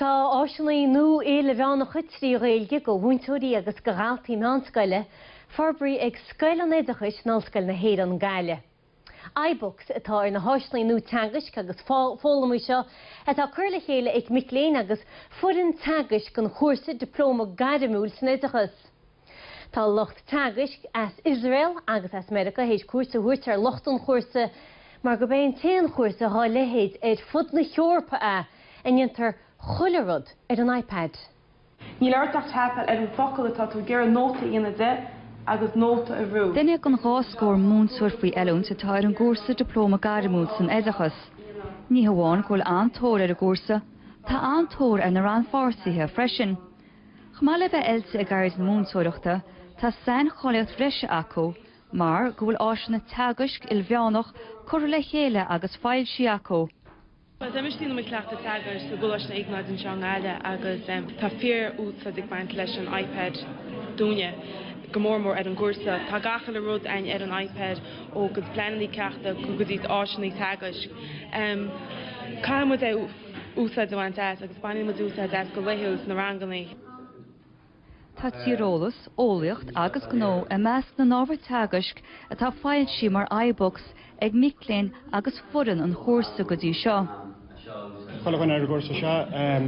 Tá áiseanna nua ilmheánacha trí Ghaeilge do mhúinteoirí agus do dhaltaí meánscoile forbraithe ag Scoil an Oideachais in Ollscoil na hÉireann, Gaillimh. iBooks atá ar na háiseanna nua teagaisc agus foghlama seo atá curtha le chéile ag mic léinn agus foireann teagaisc an chúrsa Dioplóma Gairmiúil san Oideachas. Tá lucht teagaisc as Iosrael agus as Meiriceá théis cuairt a thabhairt ar lucht an chúrsa mar gurb é an t-aon chúrsa dhá leithéid ar fud na hEorpa a ndéantar chuile rud ar an iPad. Níl ort ach tapáil ar an focal atá tú ag iarraidh nóta a dhéanamh de agus nóta a bhrú. Duine den dhá scór múinteoir faoi oiliúint atá ar an gcúrsa Dioplóma Gairmiúil san Oideachas. Ní hamháin go bhfuil an-tóir ar an gcúrsa, tá an-tóir ar na rannpháirtithe freisin. Chomh maith le bheith oilte i gceird na múinteoireachta, tá saincháilíocht bhreise acu mar go bhfuil áiseanna teagaisc ilmheánacha curtha le chéile agus foilsithe acu. Tá mise ag déanamh mo chleachtadh teagaisc i gColáiste Iognáid anseo i nGaillimh agus tá fíorúsáid ag baint leis an iPad dúinne, go mór mór ar an gcúrsa. Tá gach uile rud againn ar an iPad ó go dtí pleanannaí ceachta go go dtí áiseannaí teagaisc. Caithfidh muid é a. úsáid a bhaint agus bainimid úsáid as go laethúil sna ranganna. Tá Tíreolas, Eolaíocht agus Gnó i measc na n-ábhar teagaisc atá foilsithe mar iBooks ag mic léinn agus foireann an chúrsa go dtí seo. Chuile dhuine ar an gcúrsa seo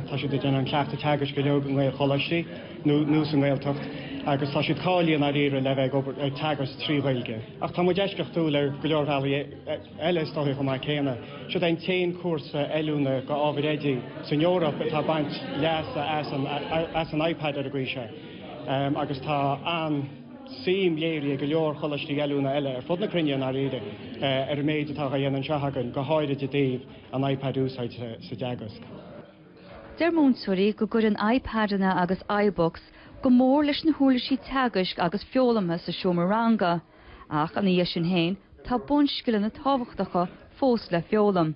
tá siad ag déanamh a gcleachtadh teagaisc uilig i nGaelcholáistí nó sa nGaeltacht agus tá siad cáilithe i ndáiríre le bheith ag teagasc trí Ghaeilge. Ach tá muid eisceachtúil ar go leor bealaí. eile is dóigh chomh maith céanna. Siod é an t-aon cúrsa oiliúna do ábhair oidí san Eoraip atá ag baint leasa as an iPad ar an gcaoi seo agus tá an-suim léirithe ag go leor coláistí oiliúna eile ar fud na cruinne i ndáiríre ar an méid atá á dhéanamh anseo againn, go háirid i dtaobh an iPad a úsáid sa dteagasc. Deir múinteoirí go gcuireann iPadeanna agus iBooks go mór leis na huirlisí teagaisc agus foghlamtha sa seomra ranga. Ach ina dhiaidh sin féin, tá bunscileanna tábhachtacha fós le foghlaim.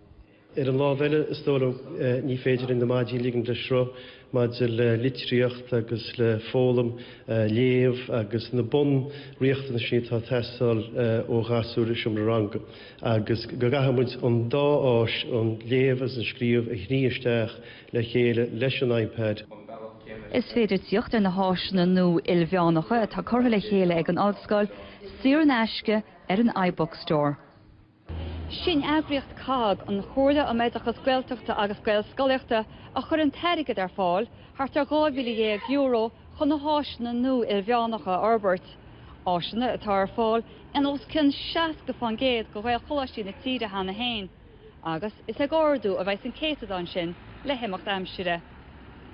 Ar an lámh eile, is dóigh liom ní féidir linn na maidí a ligean le sruth maidir le litríocht agus le foghlaim, léamh agus na bunriachtanais sin atá ag teastáil ó ghasúir i seomra ranga. Agus go gcaithfidh muid an dá áis, an léamh agus an scríobh, a shní isteach le chéile leis an iPad. Is féidir tíocht ar na háiseanna nua ilmheánacha atá curtha le chéile ag an Ollscoil saor in aisce ar an iBookstore. Is í an eagraíocht COGG, an Chomhairle um Oideachas Gaeltachta agus Gaelscolaíochta, a chuir an t-airgead ar fáil, thart ar €12,000, chun na háiseanna nua ilmheánacha a fhorbairt, áiseanna atá ar fáil in os cionn 60% de Ghaelcholáistí na tíre cheana féin. agus is ag ardú a bheidh an céatadán sin le himeacht aimsire.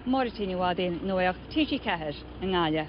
Máirín Ní Ghadhra, Nuacht, TG4, i nGaillimh.